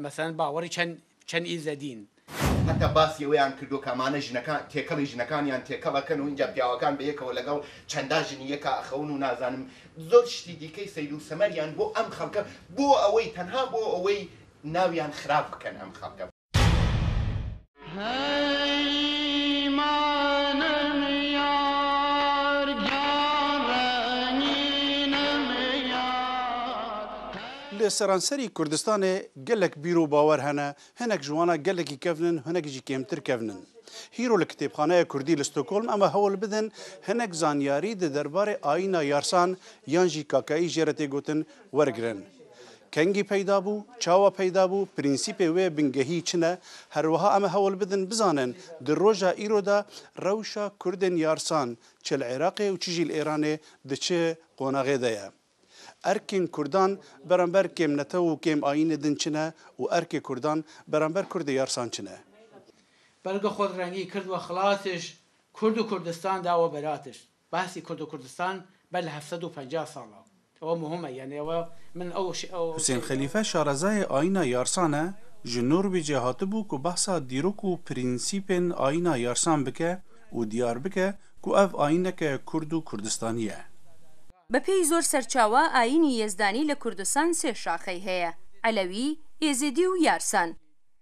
Meselen bawerî çend çend îzedîn. Heta basî wê an kirdo ka mane jinekan têkelî jinekaniyan têkel aken û înca piyawekan bi yek'e welegel çenda jinî yeka axewin û nazanim zor tiştî dîkey seyd û semer yan bo em xelke bo ewey tenha bo ewey nawiyan xirab biken em xelke. Li seranserî Kurdistanê gelek bîr û bawer hene, hinek ji wana gelekî kevn in, hinek jî kêmtir kevn in. Hîro li Kitêbxaneya Kurdî li Stockholm em e hewl bidin hinek zanyarî di derbarê ayîna yarsan yan jî kakayî jê re tê gotin Wergirin. Kengî peyda bû, çawa peyda bû, prensîpê wê bingehî çi ne, herwiha em ê hewl bidin bizanin di roja îro de rewşa Kurdên Yarsan çi li Iraqê û çi jî li Îranê di çi qonaxê de ye. Erkên Kurdan beramber kêmnetew û kêmayînê din çi ne û erkê Kurdan beramber Kurdê Yarsan çi ne. Belge xwe rengî kird we xilas tişt, Kurd û Kurdistan dawe berat tişt. Bahsî Kurd û Kurdistan ber li hevsed û penca sal a. Ew muhim e yanî ew e min ew ew. Husên Xelîfe şarezayê ayîna yarsan e, ji Norwêcê hatibû ku behsa dîrok û prensîpên ayîna yarsan bike û diyar bike ku ev ayîneke kurd û kurdistanî ye. Bi pêy zor serçawa ayînî yezdanî li Kurdistan sê şaxey heye, Elewî, Êzidî û Yarsan.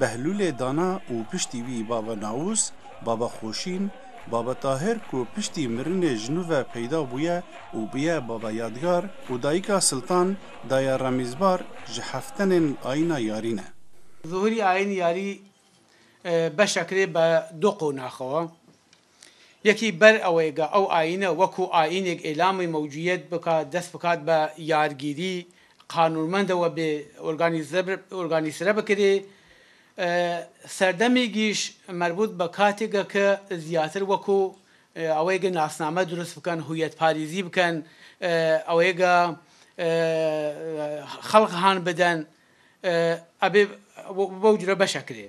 Behlûlê dana û piştî wî Baba Naûs, Baba Xoşîn, Baba Tahir ku piştî mirinê ji nû ve peyda bûye û bûye Baba Yadgar û dayika Siltan, Daya Remîzbar ji heftenên Ayîna Yarî ne. Zuhurî Ayîn Yarî beşek rê be du qonax o. Yekî ber ewê ga ew ayîne wekû ayînek îlamê mewcûyet bika, dest bikat be yargîrî, qanûnmende we bê organîzre bikirê. Serdemî gîş merbût be katê ge ke zîyatir wekû ewê ge nasname dirust biken, hûyetparêzî biken, ewê ge xelq han biden, ebê wew cure beşe kirê.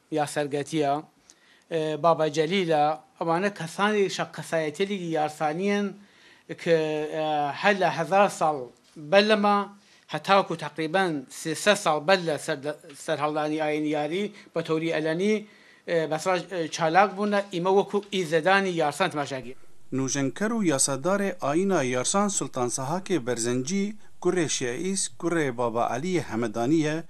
Ya Sergetiya, Baba Celîl a, ewan e kesanê şaqesayetêlîgî yarsanî yen ke hela hezar sal belle ma heta ku teqrîben sê sed sal belle ser serhaldanî ayenîyarî betewrî elenî besra çalak bûne î me wekû îzedanî yarsan temaşa kî. Nûjenker û yasadarê ayîna yarsan Sultan Sahakê Berzencî, kurê Şeîs, kurê Baba Elîyê Hemedanî ye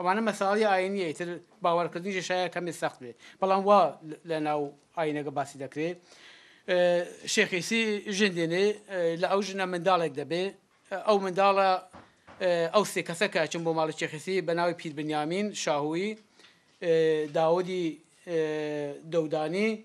Eva ne meseleyê ayînî ye, îtir bawerkirdin jî şaye kemî sext be. Belam wa li nav ayîneke basî dekirê. Şêx Îsî jin dînê, li ew jina mindalek de bê. Ew mindala ew sê keseke eçin bo mala Şêx Îsî bi navê Pîr Binyamîn, Şahûyî, Dawûdî Dewdanî,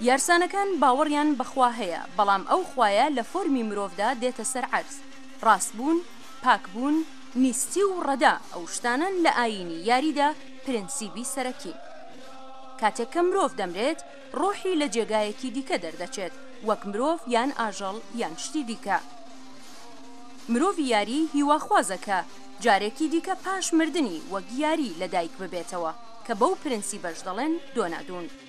Yarsanekan baweriyan bi xwe heye, belam ew xweye li formî mirov de dête ser erz. Rastbûn, pakbûn, nîstî û reda ew ştanan li ayînî yarî de prensîbî serekîn. Katek ke mirov demrêt, ruhî li cêgayekî dîke derdeçêt, wek mirov yan ajal yan ştî dîke. Mirovî yarî hîwaxwaz e ke carekî dîke paş mirdinî wek yarî li dayik bibêtewe, ke bew prensîbe ji delên donadon.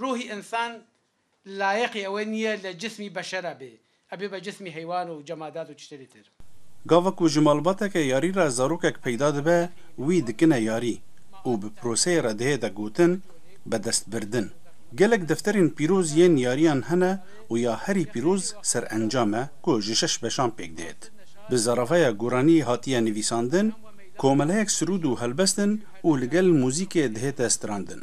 Ruhî însan layiqî ewe nîye li cismî beşera bê. Ew bibe cismî heywan û cemadat û tiştê dîtir. Gava ku ji malbateke yarî re zarokek peyda dibe wî dikine yarî û bi proseyê re dihê de gotin be destbirdin. Gelek defterên pîroz yên yariyan hene û ya herî pîroz serencam e ku ji şeş beşan pêk dihêt. Bi zaravaya Guranî hatiye nivîsandin, komeleyek sirûd û helbest in û li gel muzîkê dihête strandin.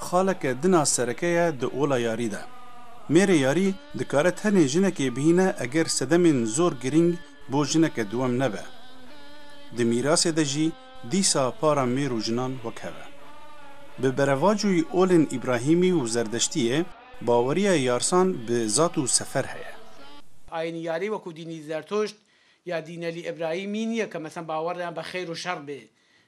Xaleke dina sereke ye di ola yarî de. Mêrê yarî dikare tenê jinekê bihîne eger sedemên zor girîng bo jineke diwem nebe. Di mîrasê de jî dîsa para mêr û jinan wek hev e. Bi berevacoyî olên Îbrahîmî û Zerdeştiyê baweriya yarsan bi zat û sefer heye. Ayînî yarî wekû dînî Zertuşt ya dînelî Îbrahîmî nîye ke mesen bawer yan be xeyr û şer bê.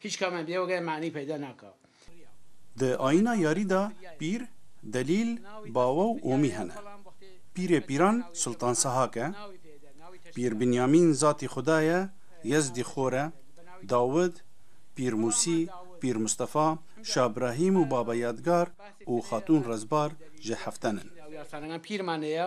Hiç ka me bîya wege manî peyda naka. Di ayîna yarî de pîr, delîl, bawe û omî hene. Pîrê pîran Sultan Sehak e. Pîr Binyamîn zatî Xuda ye, Yezdî Xor e, Dawid, Pîr Musî, Pîr Mustafa, Şah Brahîm û Baba Yadgar û Xatûn Rezbar ji heften in. Pîr Mane ye.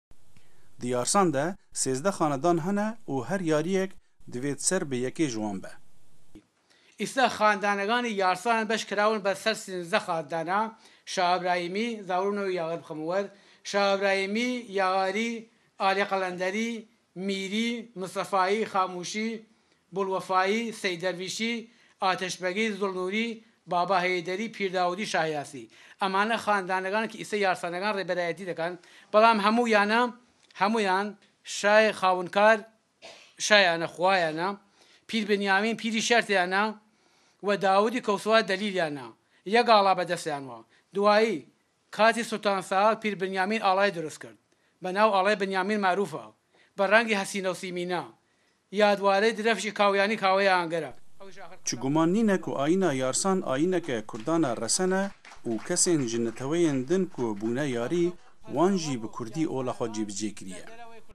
Di yarsan de sêzdeh xanedan hene û her yariyek divê di ser bi yekê ji wan be. Îsal xanedaneganî yarsanan beş kirawin ber ser sînzdeh xanedana, Şaha Ibrahîmî, Zawrûne û Yaxir bixemin wer, Şaha Ibrahîmî, Yaxarî, Alî Qelenderî, Mîrî, Mistefayî, Xamûşî, Bulwefayî, Sey Dervîşî, Ateş Begî, Zul Nûrî, Baba Heyderî, Pîr Dawûdî, Şah Yasî. Eman ne xanedanegan ki îse yarsanegan rêberayetî dikan, belam hemû yan ne, hemû yan şayê xawinkar şaya ne, xwa ya ne, Pîr Binyamîn, Pîrî Şertê ya ne we Dawûdî Kewsûa Delîl ya ne. Yek ala be dest yan wa. Duwayî, Qazî Sultan Saad Pîr Binyamîn alayê dirust kir be nav Alay Binyamîn Merûf a bi rengê hesîn û sîmîn a. Yadwarê direfşê kawiyanî kaweya Angera. Çi guman nîne ku Ayîna Yarsan ayîneke kurdan a resen e û kesên ji neteweyên din ku bûne yarî wan jî bi kurdî ola xwe cîbicê kiriye.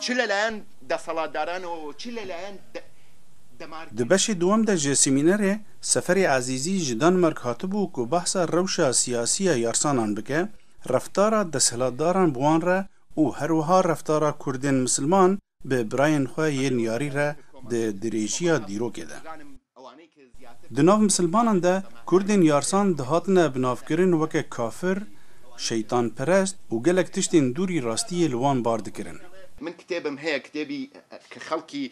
Çi li layan deselatdaran û çi li layan Demarkê. Di beşê duwem de ji semînerê Seferê Ezîzî ji Danmark hatibû ku behsa rewşa siyasî ya yarsanan bike, reftara deshilatdaran bi wan re û her wiha reftara Kurdên misilman bi birayên xwe yên yarî re di dirêjîya dîrokê de. Di nav misilmanan de Kurdên yarsan dihatine binavkirin weke kafir, şeytanperest û gelek tiştên dûrî rastiyê li wan bar dikirin. Min kitêbim heye kitêbî ke xelkî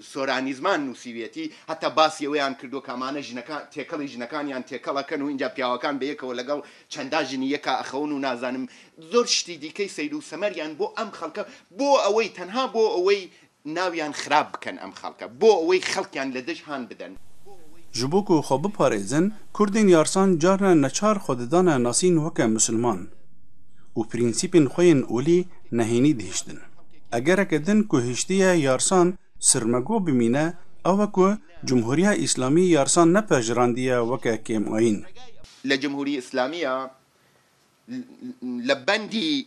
soranîzman nûsîbiyetî heta basî wê an kirdo ka mane jinekan têkelî jinekan yan têkel aken û înca piyawekan bi yekewe legel çenda jinî yeka axewin û nazanim zor şitî dîkey seyrû semer yan bo em xelke bo ewey tenha bo ewey Nawiyan xirab biken em xelke. Bo ewey xelkiyan li dij han biden. Ji bo ku xwe biparêzin, Kurdên yarsan carna neçar xwe didane nasîn weke Musilman û prînsîpên xwe yên olî nehênî dihiştin. Egereke din ku hiştiye yarsan sirmego bimîne ew e ku Cumhuriya Îslamî yarsan nepejrandiye weke kêmayîn. Li Cumhurî Îslamî ya li bendî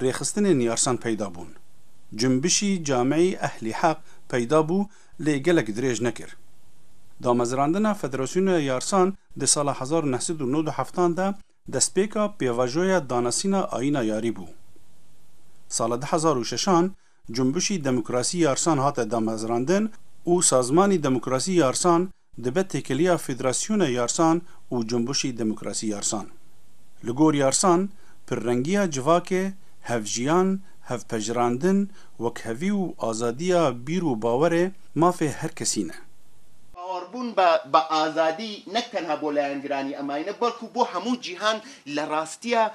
Rêxistinên yarsan peyda bûn. Cunbişî Cameyî Ehlî Heq peyda bû lê gelek dirêj nekir. Damezirandina Federasyona Yarsan di sala hezar û neh sed û nod û heft an de destpêka pêvajoya danasîna ayîna yarî bû. Sala du hezar û şeş an Cunbişî Demokrasî Yarsan hate damezirandin û Sazmanî Demokrasî Yarsan Dibe têkiliya Federasyona Yarsan û Cunbuşî Demokrasî Yarsan. Li gor Yarsan, pirrengiya civakê, hevjiyan, hevpejirandin, wekhevî û azadiya bîr û bawerê mafê her kesî ne. Bawerbûn bi azadî nek tenha bo layangiranî em ayîne belkû bo hemû cîhan li rastiya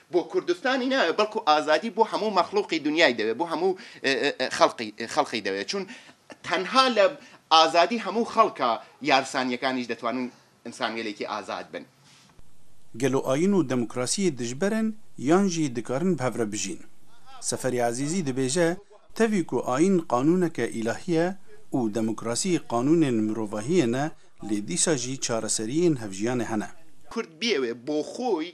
Bo Kurdistanî ne belkû azadî bo hemû mexlûqî dinyayî de ye, bo hemû xelqî xelqî de ye. Çûn tenha li azadî hemû xelka yarsanîyekanî jî detwanin însangelêkî azad bin. Gelo ayîn û demokrasîyê dijber in yan jî dikarin bi hev re bijîn? Seferî Ezîzî dibêje, Tevî ku ayîn qanûneke îlahî ye û demokrasî qanûnên mirovahîyê ne lê dîsa jî çareserîyên hevjîyanê hene. Kurd biyewê bo xwe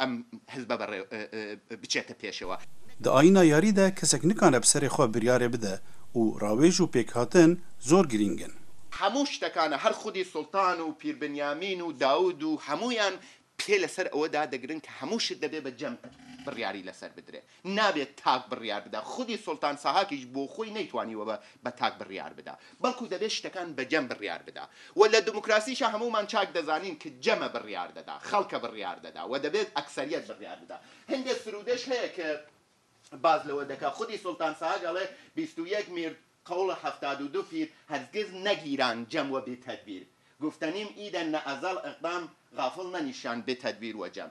Em hizbe bi rê biçete pêşê we. Di ayîna yarî de kesek nikane bi serê xwe biryarê bide û rawêj û pêkhatin zor girîng in. Hemû ştekan e. Her xwedî Sultan û Pîr Binyamîn û Dawûd û hemûyan pê li ser ewe dadigirin ke hemû şit debê be cem biryarî li ser bidire. Nabê tak biryar bide. Xwedî Sultan Sahakî ji bo xwe neytwanî we be tak biryar bide. Belkû debê ştekan be cem biryar bide. We li demokrasî şa hemûman çak dizanin ki cem e biryar deda, xelk e biryar deda we debê ekseriyet biryar bide. Hindê sirûdeş heye ki baz li we dike. Xwedî Sultan Sahak elê bîst û yek mîrd qewle heftad û du fîr hergiz negîran cem we bê tedbîr. Guftenîm îden ne ezel iqdam gafil ne nîşan bê tedbîr we cem.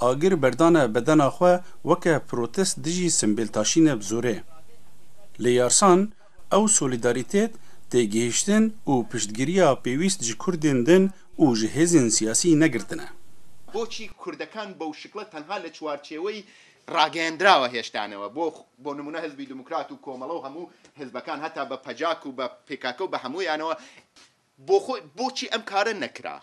Agir berdane bedena xwe weke protest dijî simbêltaşîne bi zorê. Li Yarsan ew solîdarîtet, têgihiştin û piştgiriya pêwîst ji Kurdên din û ji hêzên siyasî negirtine. Boçî Kurdekan bo şikla tenha li çwarçewey rageyendirawa hêşta ne we. Bo nimune Hizbî Demokrat û Komelo û hemû hizbekan heta be pcak û be pkk û be hemûyanewe. Bo xwe boçî em kare nekira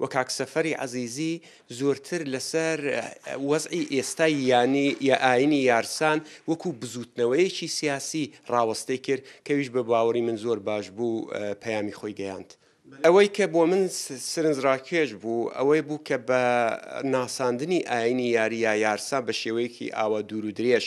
Wê kak Seferî Ezîzî zortir li ser wezî êsta yanî ya ayînî yarsan wekû bizûtneweyekî siyasî rawestê kir ke wî ji bi bawerî min zor baş bû peyamî xwe geyand. Ewey ke bo min sirinc rakêj bû ewey bû ke bi nasandinî ayînî yarî ya yarsan bi şêweyekî awa dûrûdirêj